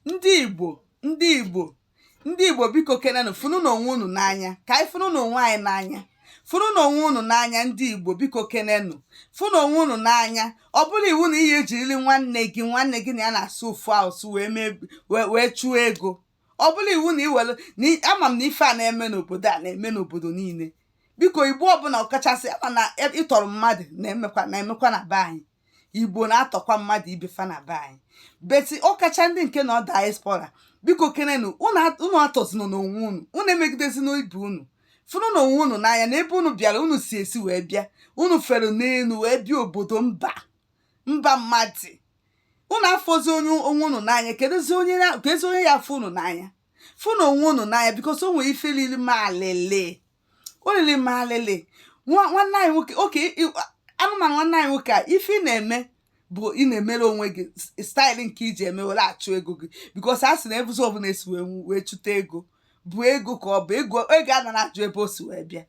ndị igbo ndị igbo ndị igbo biko kenenụ fụnụ na onwe unu n'anya ka anyị fụnụ na onwe anyị n'anya fụnụ na onwe unu n'anya ndị igbo biko kenenụ fụnụ onwe unu n'anya ọ bụrụ iwu na ihe e jirili nwanne gị nwanne gị na ya na-asụ ofu asụ wee mee wee chụọ ego ọ bụrụ iwu na iwere na ama m na ife a na-eme n'obodo a na-eme n'obodo niile biko igbo ọbụla ọkachasị ama m na e, ịtọrọ mmadụ na-emekwa na-emekwa na be anyị igbo na-atọkwa mmadụ ibe fa na be anyị but ọkacha ndị nke nọ diaspora biko kenenụ unu atọzina onwe unu unu emegidezina ibe unu fụnụ na onwe unu n'anya na ebe unu bịara unu si esi wee bịa unu fere n'elu wee bịa obodo mba mba mmadụ unu afụzi onye onwe unu n'anya kedụzi onye ya-afụ unu n'anya fụnụ onwe unu n'anya because o nwere ife lili m alịlị o lili m alịlị nwanne anyị nwoke oke anụmanụ nwanne anyị nwoke a ife ị na-eme bụ ị na-emere onwe gị style nke i ji eme were achụ ego gị because a sị na ebezi ọbụla e si wee wee chụta ego bụ ego ka ọ bụ ego ego a nara ajụ ebe o si wee bịa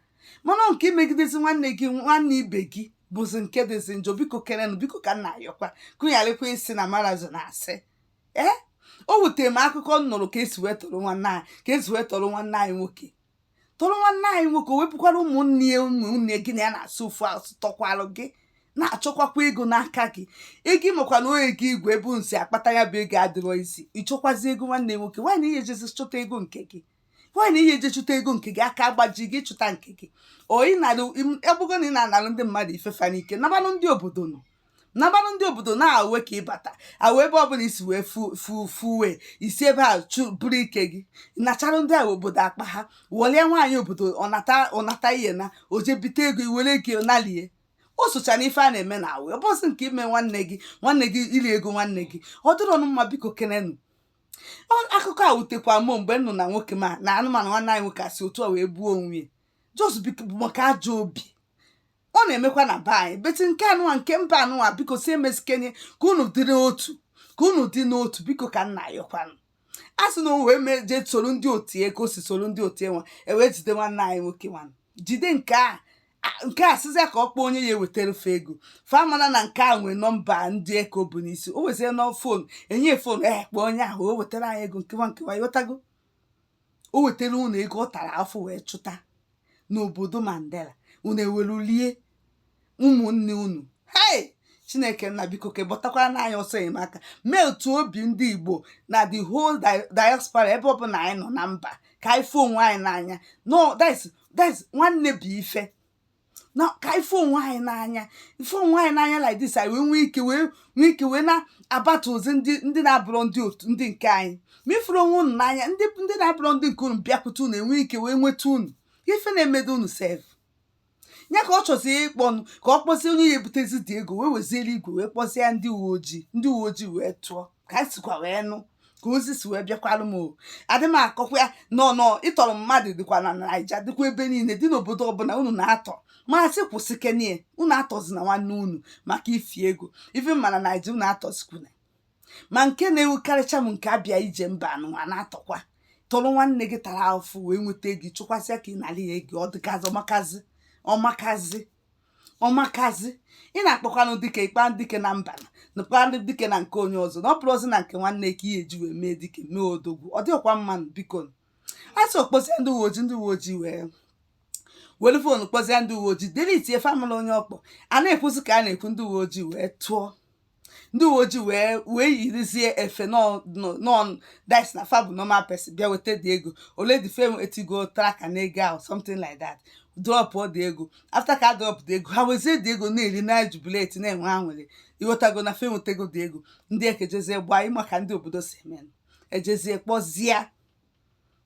mana nke imegidezi nwanne gị nwanne ibe gị bụzi nke dịzi njọ biko kenenụ biko ka m na-ayọkwa kụgharịkwa isi na marazo na-asị ee o wutere m akụkọ m nụrụ ka e si wee tọrọ nwanne anyị ka e si wee tọrọ nwanne anyị nwoke tọrọ nwanne anyị nwoke o wee bụkwara ụmụnne ya ụmụnne gị na ya na-asụ ofu asụ tọkwalụ gị na-achọkwakwa ego n'aka gị ego ị makwa na onye gị igwe ebe unu si akpata ya bụ ego adịrọ easy ị chọkwazi ego nwanne nwoke why na ị ya ejezi chụta ego nke gị why na ị ya eje chụta ego nke gị aka agbaji gị chụta nke gị ọlụ ị na-alụ abụgo na ị na-analụ ndị mmadụ ife fa n'ike nabanụ ndị obodo nọ nabanụ ndị obodo na away ka ị bata away ebe ọbụla i si wee fuwe isi ebe a bụrụ ike gị nachara ndị nwe obodo akpa ha wọlie nwaanyị obodo ọ nata ihe na o je bite ego i were ego nalie o sochara ife a na-eme na away ọ bụzị nke ime nwanne gị nwanne gị iri ego nwanne gị ọ dịrọ ọnụ mma biko kenenụ akụkọ a wutekwa mụ mgbe m nụ na nwoke ma na anụmanụ nwanne anyị nwoke e si otu a wee gbuo onwe ya just maka ajọ obi ọ na-emekwa na be anyị but nke anụwa nke mba anụwa biko si emesikenye ka unu dị n'otu ka unu dị n'otu biko ka m na-ayọkwanụ a sị na o wee mee jee soro ndị otu ya ka o si soro ndị otu ya nwa e wee jide nwanne anyị nwoke nwanụ jide nke a a- nke a sịzịa ka ọ kpọọ onye ya-ewetara fa ego fa mara na nke a nwee number ndị nke o bu n'isi o wezie nọ phone enye phone ee kpọọ onye ahụ o wetara anyị ego nkewa nkewa ị ghọtago o wetara unu ego ọ tara afụfụ wee chụta n'obodo mandela unu ewelu lie ụmụnne unu hei chineke nna biko ka gbọtakwaranụ anyị ọsọ enyemaka mee otu obi ndị igbo na the whole di- diaspora ebe ọbụla anyị nọ na mba ka anyị fụ onwe anyị n'anya no that's that's nwanne bụ ife na ka ịfụ onwe anyị n'anya ịfụ onwe anyị n'anya like this anyị wee nwee ike wee nwee ike wee na-abatazi ndị ndị na-abụrọ ndị otu ndị nke anyị ma ị fụrọ onwe unu n'anya ndị ndị na-abụrọ ndị nke unu bịakwute unu enwee ike wee nweta unu ife na-emedu unu sef ya ka ọ chọzi ịkpọnụ ka ọ kpọzie onye ya ebutezi the ego wee wezili igwe wee kpọzie ndị uwe ojii ndị uwe ojii wee tụọ ka anyị sikwa wee nụ ka ozi si wee bịakwara m o adị m akọkwa ya nọ nọ ịtọrọ mmadụ dịkwa na naija dịkwa ebe niile dị n'obodo ọbụla unu na-atọ m asị kwụsịkenie unu atọzina nwanne unu maka ifi ego even ma na naija unu atọzikwuna ma nke na-ewukarịcha m nke abịa ije mba anụnwa na-atọkwa tọrọ nwanne gị tara afụfụ wee nweta ego chụkwasịa ka ị nara ya ego ọ dịgazị ọ makazi ọ makazi ọ makazi ị na-akpọkwanụ dike ịkpa dike na mba nakwa dike na nke onye ọzọ na ọ bụrọzi na nke nwanne ka ị ya-eji wee mee dike mee odogwu ọ dịrọkwa mma nụ biko a sị ọ kpọzie ndị uwe ojii ndị uwe ojii wee were foonu kpọzie ndị uwe ojii delitie fa amara onye ọ kpọ a na-ekwuzi ka a na-ekwu ndị uwe ojii wee tụọ ndị uwe ojii wee wee yirizie efe nọn dis na fa bụ normal person bịa weta the ego already fa etigo tracker na ego ahụ something like that dropụọ the ego after ka a drop the ego ha wezie the ego na-eri na-ejubileti na-enwe aṅụrị ị ghọtago na fa ewetego the ego ndị eke jezie gbaa ị ma ka ndị obodo si eme ejezie kpọzie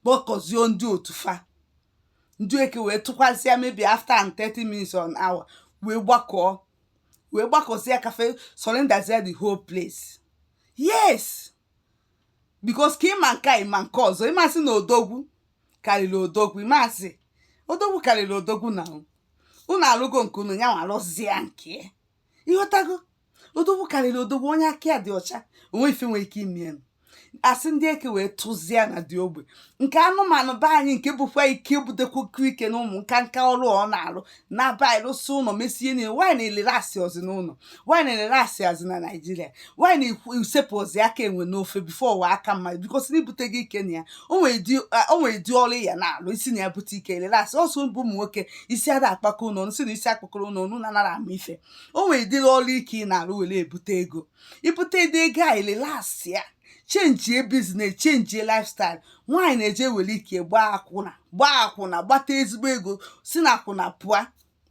kpọkọzie ndị otu fa ndị eke wee tụkwazịa maybe after 30 minutes one hour wee gbakọọ wee gbakọzie ka fa surroundzia the whole place yes because ka ị ma nke a ị ma nke ọzọ ị mazi na odogwu karịrị odogwu ị mazi odogwu karịrị odogwu na unu alụgo nke unu ya nwa alụzie nke ị ghọtago odogwu karịrị odogwu onye aka ya dị ọcha o nwe ife nwere ike ime ya a sị ndị eke wee tụzie na dị ogbe nke anụmanụ be anyị nke bụkwa ike butekwuku ike na ụmụ nka nka ọrụ ọ na-arụ na be anyị rụsị ụlọ mesie niile nwaanyị na-erelaxịzi n'ụlọ nwaanyị na-erelaxịzi na naijiria nwaanyị na-esepụzi aka enwe n'ofe before ọ ghọọ aka mmadụ because na ibute gị ike na ya o nwere ụdị a- o nwere ụdị ọrụ ị ya na-alụ i si na ya bute ike ị relax ọsọ bụ ụmụ nwoke isi ada akpakọ ụlọ ọnụ si na isi akpakọrọ ụlọ ọnụ na anara ama ife o nwere ụdịrị ọrụ ike ị na-arụ were ebute ego i bute the ego a relaxịa chenjie business chenjie lifestyle nwaanyị na-eje were ike gbaa akwụna gbaa akwụna gbata ezigbo ego si na akwụna pụa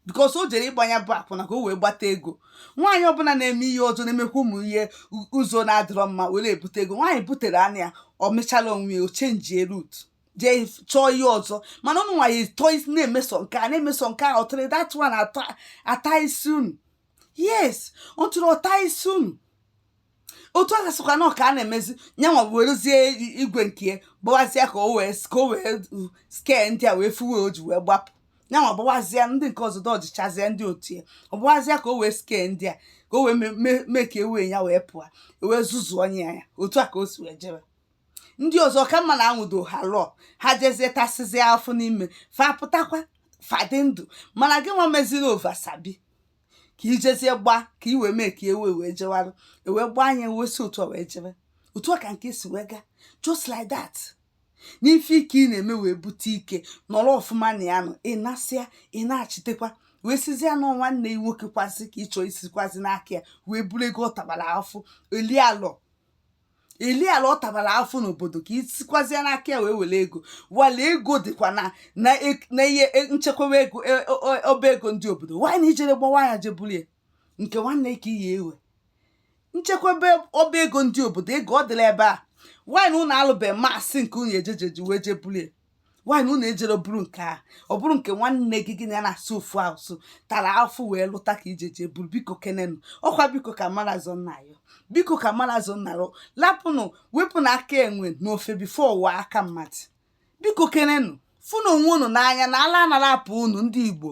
because o jere ịgba nya bụ akwụna ka o wee gbata ego nwaanyị ọbụla na-eme ihe ọzọ na-emekwa ụmụ ihe ụzọ na-adịrọ mma were ebute ego nwaanyị butere anya ya ọ mechala onwe ya o chenjie route jee chọọ ihe ọzọ mana ụmụ nwaanyị tọọ isi na-emeso nke a na-emeso nke a ọ tụrụ that one ata isi unu yes ọ tụrụ ọ ta isi unu otu a gasịkwa na ọka a na-emezi nyanwa werezie igwe nke gbawazịa ka o wee ka o wee escape ndị a wee fuwe o ji wee gbapụ nyanwa gbawazịa ndị nke ọzọ dọjichazie ndị otu ya ọ gbawazịa ka o wee escape ndị a ka o wee mee ka ewee ya wee pụọ e wee zuzuo onye ya otu a ka o si wee jebe ndị ọzọ ka mma na a nwụdo ha lụọ ha jezie tasịzie afụ n'ime fa pụtakwa fa dị ndụ mana gị nwa meziri oversabi ka i jezie gbaa ka i wee mee ka ewe wee jewarụ ewee gbaa anya wee si otu a wee jebe otu a ka nke si wee gaa just like that n'ife ike ị na-eme wee bute ike nọrọ ọfụma na ya nọ ị nasịa ị na-achịtekwa wee sizie na nwanne ya nwoke kwasị ka ị chọ isikwazi n'aka ya wee buru ego ọ tabara afụ eli ala eliala ọ tabara afụ n'obodo ka i sikwazie n'aka ya wee were ego wale ego dịkwa na na e- na ihe e- nchekwawa ego e- o- o- ọba ego ndị obodo why na i jere gbawa ya jee buru ya nke nwanne ka iyi ewe nchekwebe ọba ego ndị obodo ego ọ dịla ebe a why na unu alụbeghị masị nke unu ejejeji wee jee buru ya why na unu ejere buru nke a ọ bụrụ nke nwanne gị gị na ya na-asụ ofu asụ tara afụ wee lụta ka i je jee buru biko kenenụ ọ kwa biko ka mara zọ nna ya biko ka mara zọ nna ya lapụnụ wepụnụ aka enwe n'ofe before ọ ghọ aka mmadụ biko kenenụ fụnụ onwe unu n'anya na ala anara apụ unu ndị igbo